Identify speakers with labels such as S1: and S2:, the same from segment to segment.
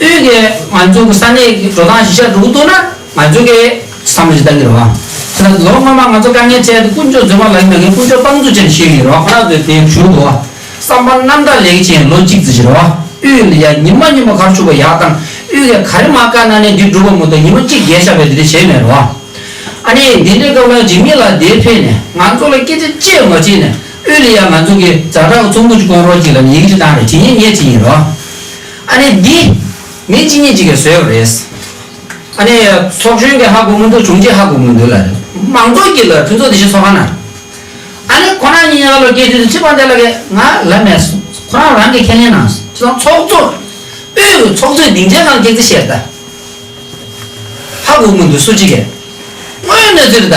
S1: ཨོས་ཀྱིས་ང་ཚོའི་གི་ས་གནས་ཀྱི་འགྲོ་སྟངས་གཞི་ཆགས་འགྲོ་གི་འདུག་ན་ང་ཚོས་ཀྱི་བསམ་བློ་ཞིག་གཏང་གི་རེད་བ། ཁོ་ན་ལོ་སྔོན་མ་ང་ཚོ་དཀའ་ངལ་འཕྲད་དུ་དཀོན་མཆོག་རྫུན་མ་ལག་གི་ནང་གི་དཀོན་མཆོག་དཔང་འཛུགས་བྱས་ནས་ཤེས་ཡོད་རེད་བ་ཁོ་ན་ཚོས་དེ་ཞུ་དགོས་བ། བསམ་པ་རྣམ་དག་ལེགས་ཀྱི་བྱས་ལོ་གཅིག་རྩི་བྱས་རེད་བ། ཨོས་ལ་ཡ་ཉི་མ་གཉིས་མ་གར་ཆུག་པ་ཡག་བཏང་ཨོས་ཀྱིས་ག་རེ་མ་བཀག་ན་ནས་འདི་འགྲུབ་པ་མོ་ཏོ་ཉི་མ་གཅིག་བརྒྱད་ཆགས་པས་དེ་འདྲ་བྱས་མེད་རེད་བ། ཨ་ནི་འདི་འདྲའི་སྐབས་ལ་འཇིགས་མེད་ལ་དེ་ཕེབས་ནས་ང་ཚོ་ལ་སྐད་ཆ་བཅས་མ་བྱས་ནས་ཨུ་ལི་ཡཱ་ང་ཚོ་གི་རྫ་བྲག་གི་ཚོམ་བུ་གཅིག་སྐོང་རོགས་གཅིག་ལ་ནི་ཡིག་འབྲི་སྟངས་རེ་ཇི་སྙེད་སྙེད་ཅིག་ཡིན་རོ། ཨ་ནི་འདི་མི་ཅི་སྙེད་ཅིག་གིས་བཟོས་བ་རེད། ཨ་ནི་ཚོགས་གཞོན་གྱི་ཧ་གོ་མི་འདུག་དྲུང་ཆེའི་ཧ་གོ་མི་འདུག་ལ་རེད། མང་ཚོགས་ཀྱི་ལ་ཕུན་ཚོགས་དེ་བཞིན་ཚོགས་ཁང་ན་རེད། ཨ་ནི་ཁོ་རང་ཉིད་ཡང་ལོ་བརྒྱད་ཅུ་ཚུན་ཁྲི་པང་དེ་ལ་གི་ང་ལ་མེད་སོང་ཁོ་རང་རང་གིས་ཁས་ལེན་གནང་སོང་དེ་དང་ཚོགས་གཙོ་ཨུའི་གི་ཚོགས་གཙོའི་སྡིངས་ཆའི་ནང་སྐད་ཚིག་བཤད་རེད་ད། ཧ་གོ་མི་འདུག་སུ་གཅིག་གིས་དངོས་ཡོད་གནས་ཚུལ་རེད་ད།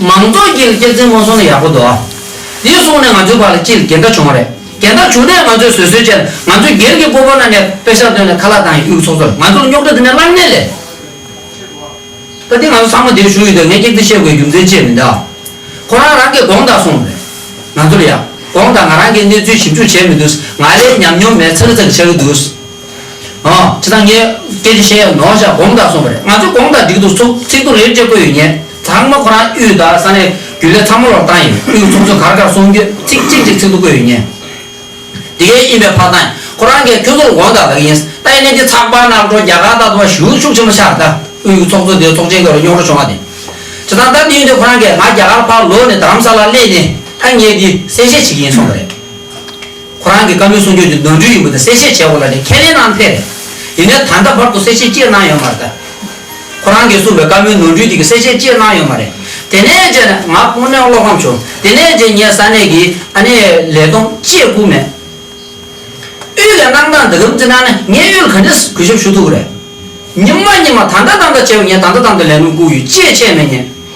S1: མང་ཚོགས་ཀྱིས་སྐྱེད་ཚལ་སྔོན་སོང་ན་ཡག་པོ་འདུག་དེ་སོང་ནས་ང་ཚོའི་བར་ལ་སྤྱིར་འགལ་ཟླ་བྱུང་བ་རེད་འགལ་ཟླ་བྱུང་ནས་ང་ཚོས་བཟོད་གསོལ་བྱས་ལ་ང་ཚོའི་སྒེར་གྱི་སྤོ་བོ་ན་ནས་དཔེ་ཤག་བཏོན་ནས་ཁ་ལག་བཏང་ཡིན་དབུས་ཚོགས་གཙོ་ལ་ང་ཚོར་རྙོག་དྲ་འདི་འདྲ་བསླངས་ནས་ལས། ད་དེ་ང་ཚོ་ཚང་མ་འདིར་ཞུགས་ཡོད་དུས་ངས་སྐྱེད་ཚལ་བཤད་དགོས་རྒྱུ་མཚན་ཅི་ཡང་མི་འདུག་ཁོ་རང་རང་གིས་དགོངས་དག་གསུངས་པ་རེད་ང་ཚོར་ཡག་དགོངས་དག་ང་རང་གིས་གནས་ཚུལ་ཞིབ་འཇུག་བྱས་མི་འདུག་ང་ལས་ཉམས་མྱོང་མེད་ཚག་ཚག་གི་ཆགས་ཀྱི་འདུག། ཁྱེད་རང་ངས་སྐད་ཆ་བཤད་ཡ་ནོ་ཞེས་དགོངས་དག་གསུངས་པ་རེད་ང་ཚོས་དགོངས་དག་སྒྲིག་འདུག་ཚོགས་ཚིག་ཏུ་རེད་ཅེས་བཀོད་ཡོད་ཉེས་ཚང་མ་ཁོ་རང་དབུས་དང་ས་གནས་རྒྱུན་ལས་ཚང་མ་ལོག་བཏང་ཡིན་དབུས་ཚོགས་གཙོས་གར་གར་སོང་རྒྱུ་ཚིག་གཅིག་གཅིག་ཚིག་ཏུ་བཀོད་ཡོད་ཉེས། དེ་གས་ཡིན་པའི་ཕ་ཐང་ཡིན་ཁོ་རང་གས་ཁྱོད་ཚོ་ལ་དགོངས་དག་གདགས་ཡིན་ལྟ་ཡིན་ནས་འདི་ཚགས་པར་ནག་འགྲོ་རྒྱ་གར་དང་དུ་བ་ཞུ་ཤུགས་ཆེན་པོ་ཆགས་ལྟ་དབུས་ཀྱི་ཚོགས་གཙོ་དེ་ཚོགས་ཆེན་ག་རུ་རྙོག་འགྲོ་བྱུང་བ་དེ་ཇི་ཐང་ལྟར་དེ་ཡིན་དུས་ཁོ་རང་གས་ང་རྒྱ་གར་ཕར་ལོག་ནས་དར་རམ་ས་ལར་སླེབས་ནས་ཐ་སྙད་འདི་གསལ་བཤད་བྱེད་ཀྱི་ཡིན་གསུངས་པ་རེད། ཁོ་རང་གི་བཀའ་མོལ་གསུང་ཆོས་འདི་ནོར་འཁྲུལ་ཡིན་པ་དེ་གསལ་བཤད་བྱས་འོང་ལ་ནི་ཁས་ལེན་གནང་འཕེར། ཡིན་ནའི་ད་ལྟ་བར་དུ་གསལ་བཤད་སྤྱིར་གནང་ཡོད་མ་རེད་ད། ཁོ་རང་གིས་གསུང་པའི་བཀའ་མོལ་ནོར་འཁྲུལ་དེ་གི་གསལ་བཤད་སྤྱིར་གནང་ཡོད་མ་རེད། དེ་ནས་རྗེས་ནས་ང་དངོས་གནས་བློ་ཕམ་བྱུང། དེ་ནས་རྗེས་ངས་ས་གནས་ཀྱི་ཨ་ནེ་ལས་ལྡོང་བཅས་བསྐུར་མེད། དབུས་ལས་གནང་སྟངས་འདི་ལམ་རྩི་གནང་ན་ངས་གཡུལ་ག་འདྲས་གུས་ཞབས་ཞུ་ཐུབ་རེད། ཉིན་མ་ཉིན་མ་ད་ལྟ་ད་ལྟ་བྱས་པ་ངས་ད་ལྟ་ད་ལྟ་ལས་དོན་བསྐུར་ཡོད་ཅེས་བཤད་མེད་ཉེས།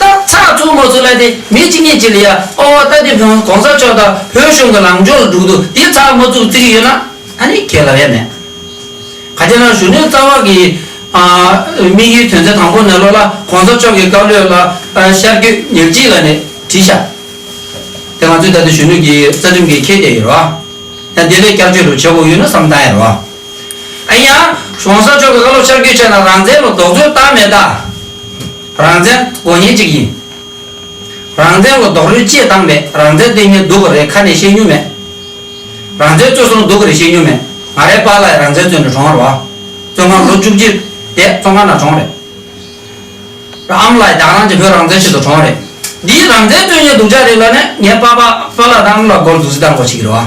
S1: རྟགས་ཚགས་ཚུད་མ་ཚུད་ལ་དེ་མི་གཅིག་གཉིས་གཅིག་ལ་ཡ་ཨོ་ཨོ་ལྟ་དེ་བོན་གོང་ས་མཆོག་དང་བོད་གཞུང་གི་ལངས་ཕྱོགས་ལ་འགྲུག་འདུག་དེ་ཚགས་མ་ཚུགས་བརྩི་གི་ཡོད་ན་ད་ནི་ཁྱེད་ལ་ཡ་མེད། ག་དེ་ན་གཞོན་ནུའི་རྩ་བ་གི་དམིགས་ཡུལ་དོན་ཚན་དང་པོ་ནས་ལོག་ལ་གོང་ས་མཆོག་གི་བཀའ་བློས་ལ་ཤར་བརྒྱུད་ཉག་གཅིག་ལ་ནས་བྲིས་ཤག་དེ་ང་ཚོའི་ད་ལྟའི་གཞོན་ནུ་གི་རྩ་ཁྲིམས་ཀྱི་ཁྱད་དེ་ཡིན་རོ། ཡང་དེ་ལས་བསྐྱར་བཅོས་ལོ་བྱེད་དགོས་ཡོད་ན་བསམ་སྟངས་ཡིན་རོ། ཨེ་ཡ། གོང་ས་མཆོག་གི་བཀའ་སློབ་ཕྱག་རྒྱུད་ཆད་ན་རང་བཙན་ལོ་རྡོག་རོལ་བཏང་མེད་ད། རང་བཙན་དགོས་ངེས་ཅིག་ཡིན། རང་བཙན་ལོ་རྡོག་རོལ་ཅེས་བཏང་མེད་རང་བཙན་ལྟོས་ངན་སྡུག་གི་རེད་ཁ་ནས་བཤད་མྱོང་མེད། རང་བཙན་རྩོད་སོང་སྡུག་གི་རེད་བཤད་མྱོང་མེད་ང་རའི་པཱ་ལགས་རང་བཙན་རྩོད་ནས་གྲོངས་ཨ་རོ་ཨ། བཙོན་ཁང་ལོ་བཅུ་གཅིག་དེ་བཙོན་ཁང་ནང་གྲོངས་རེད། ར་ཨམ་ལགས་རྒྱ་ནག་གི་བོད་རང་བཙན་ཆེད་དུ་གྲོངས་རེད། འདིའི་རང་བཙན་རྩོད་ཉེན་སྡུག་ཅག་རེད་ལ་ནས་ངའི་པཱ་པཱ་ལགས་དང་ཨམ་ལགས་སྒོར་འཛུགས་རྩིས་བཏང་དགོས་ཆིག་གི་རེད་ཨ།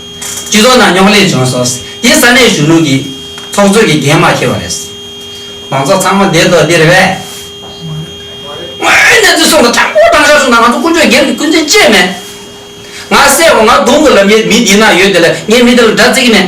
S1: སྤྱི་ཚོགས་ནང་རྙོག་གླེང་བྱུང་སོང། དེ་ས་གནས་གཞོན་ནུ་གིས་ཚོགས་གཙོས་ཀྱི་འགན་མ་ཁྱེར་བ་རེད། མང་ཚོགས་ཚང་མ་འདས་དོགས་འདིར་བས། དངོས་ཡོད་གནས་ཚུལ་སོགས་ལ་དྲང་པོ་དྲང་བཞག་གསུངས་ན་ང་ཚོ་དཀོན་མཆོག་རྒྱལ་གྱི་སྐུ་མཚན་བཅས་མེད། ང་གསལ་བོ་ང་གདོང་གི་ལམ་ཡེར་མི་འདི་ན་ཡོད་དེ་ལས་ངས་མི་དེ་ལ་སྒྲ་བརྩི་གི་མེད།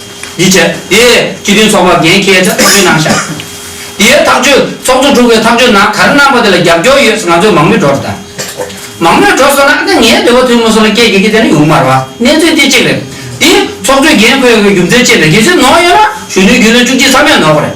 S1: ཡིད་ཆེས། དེ་ཡི་སྤྱི་དོན་ཚོགས་པ་འགན་ཁྱེད་ཅག་ཚང་མའི་ནང་བཞག། དེ་ཡི་ཐག་གཅོད་ཚོགས་གཙོ་དྲུག་པའི་ཐག་གཅོད་ནང་ག་རེ་གནང་པ་དེ་ལ་རྒྱབ་སྐྱོར་ཡོད་ས་ང་ཚོས་མང་མོས་འགྲོ་རེ་ད། མང་མོས་འགྲོ་སོང་ན་ཨ་ན་ངའི་བདེ་བ་ཐོན་མི་སོང་ལ་སྐྱེལ་དགོས་ཀྱི་དེ་ནི་ཡོང་མར་བ་གནས་ཚུལ་དེ་གཅིག་རེད། དེ་ཡི་ཚོགས་གཙོའི་འགན་ཁུར་ཡོད་ཀྱི་རྒྱུ་མཚན་ཅི་རེད་དེ་ཚོས་ནོར་ཡོད་ན་གཞོན་ནུའི་རྒྱུན་ལོན་བཅུ་གཅིག་ཚང་མས་ནོར་གོ་རེད།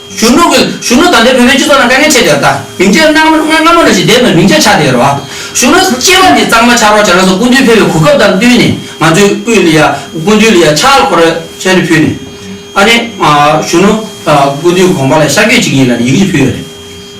S1: གཞོན་ནུ་གིས་གཞོན་ནུ་དང་འདྲའི་བོད་པའི་སྤྱི་ཚོགས་ནང་དཀའ་ངལ་ཆེ་དེར་ལྟ། མིང་ཆད་སྔ་མོ་སྔ་མོ་ནས་ཞིག་བསྡད་མེད་མིང་ཆད་ཆགས་དེ་རོ། གཞོན་ནུ་སྐྱེས་པ་ནས་གཙང་མ་ཆགས་རོགས་བྱས་ན་སོགས་སྐུ་མདུན་ཕེབས་པའི་གོ་སྐབས་དང་བསྟུན་ནས་ང་ཚོའི་དབུས་ལ་ཡ་སྐུ་མདུན་ལ་ཡ་ཕྱག་ལ་འཁོར་རོགས་ཞལ་དྲི་ཕུལ་ནས། ཨ་ནེ། གཞོན་ནུ། སྐུ་མདུན་དགོངས་པ་ལ་ཤར་བསྐྱོད་ཅིག་ཡིན་ལ་ཡིག་གཅིག་ཕུལ་ཡོད་རེད།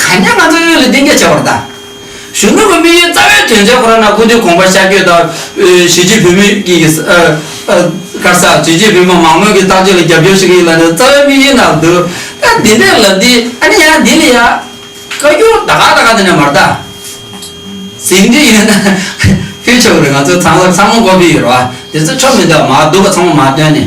S1: གང་ཉམས་མ་ཚང་ཡོད་ལ་གཏན་འཁེལ་བྱ་བར་བལྟ། གཞོན་ནུ་བའི་དམིགས་ཡུལ་རྩ་བའི་དོན་ཆེན་ཁོ་རང་ན་སྐུ་དུས་གོང་པར་ཤར་བསྐྱོད་དང། གཞིས་བྱེས་བོད་མི་ཀྱི་དཀར་ས། གཞིས་བྱེས་བོད་མི་མང་མོས་ཀྱི་བརྟག་དཔྱད་ལ་རྒྱབ་སྐྱོར་བྱེད་མཁན་ཡིན་ལ་ནི་རྩ་བའི་དམིགས་ཡུལ་ནང་འདུག་ཨ་འདི་འདྲའི་ལབ་འདི་ཨ་ནི་ཡང་འདི་ལ་ཡང། བཀའ་འགྱུར་ད་ག་ད་ག་འདི་འདྲ་མར་བལྟ། ཟིན་བྲིས་ཡོད་ན་ཕུལ་ཆོག་རེད་ང་ཚོས་ཚང་མ་ཚང་མ་མགོ་སྦིས་ཡོད་རེད་བ་འདི་ཚོ་ཆོ་མི་འདུག་མ་འདུག་པ་ཚང་མ་མ་བཏོན་ནས།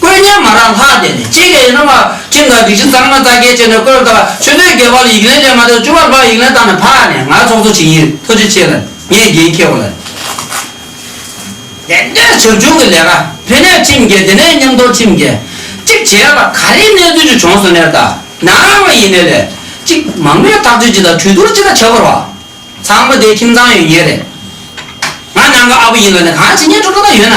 S1: བཀོད་ཉར་མ་རག་ལྷག་བསྡད་ནས་ཅི་བྱེད་ཡིན་ན་མ་ཁྲིམས་དང་སྒྲིག་གཞི་གཙང་མ་རྩ་འགལ་བྱས་ནས་བཀོད་བཏང་ཆོས་དོན་རྒྱལ་བ་ལ་ཡིག་ལན་ལས་མ་ཐོན་བཅུ་བར་ལྷག་ཡིག་ལན་བཏང་ནས་ཕར་ནས་ང་ཚོགས་གཙོ་བྱེད་ཀྱི་ཡིན་ཐུགས་རྗེ་ཆེ་ལ་ངས་རྒྱན་ཁྱེར་བ་ལ། དེ་འདྲའི་བྱབ་ཆུང་གི་ལས་ཀ་ཕན་ནས་ཁྲིམས་འགལ་དེ་ནས་ཉམས་རྟོགས་ཁྲིམས་འགལ་གཅིག་བྱས་ལ་ག་རེའི་གནས་ཚུལ་ཅིག་བྱུང་སོང་ནས་ད་ནངས་ལ་ཡིན་ནས་ལས་གཅིག་མང་པོའི་ཐག་གཅོད་ཅིག་དང་གྲོས་བསྡུར་ཅིག་ལ་བྱ་དགོས་རོགས་ཚང་མ་དེའི་ཁྱིམ་ཚང་ཡོད་ངེས་རེད་ང་ནང་གི་ཨ་བུ་ཡིན་ལ་ནས་གང་བྱེད་ཉན་སྤྲོ་སྤྲོ་ད་ཡོད་ན།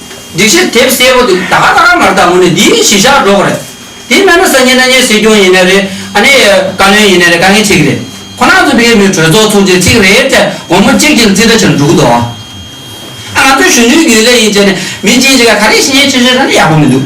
S1: སྒྲིག་ཆས་དེབ་གསལ་པོ་འདུག་ད་ག་ལྟ་ག་མར་ལྟ་མོ་ནི་འདིའི་གཞི་བཞག་སྒྲོག་གི་རེད། དེ་མེད་ན་སང་ཉིན་ན་ཉིན་སྲིད་སྐྱོང་ཡིན་ནི་རེད་ཨ་ནི་བཀའ་བློན་ཡིན་ནི་རེད་དཀའ་ངལ་ཆེ་གི་རེད། ཁོ་ན་ཚོ་བོད་མིའི་གྲོས་ཚོགས་ཚོགས་ཆེན་གཅིག་རེད་ཚེ་དགོང་མོ་གཅིག་གཅིག་ལ་རྩིས་ཁྲ་བྱེད་འགྲོ་གི་འདུག་ཨ། ང་ཚོའི་གཞོན་ནུའི་རྒྱུན་ལས་ཡིན་བྱས་ནི་མི་གཅིག་གཅིག་ག་ག་རེ་ཤེས་ཤེས་ཆེ་ཆེ་ར་ནི་ཡག་པོ་མི་འདུག།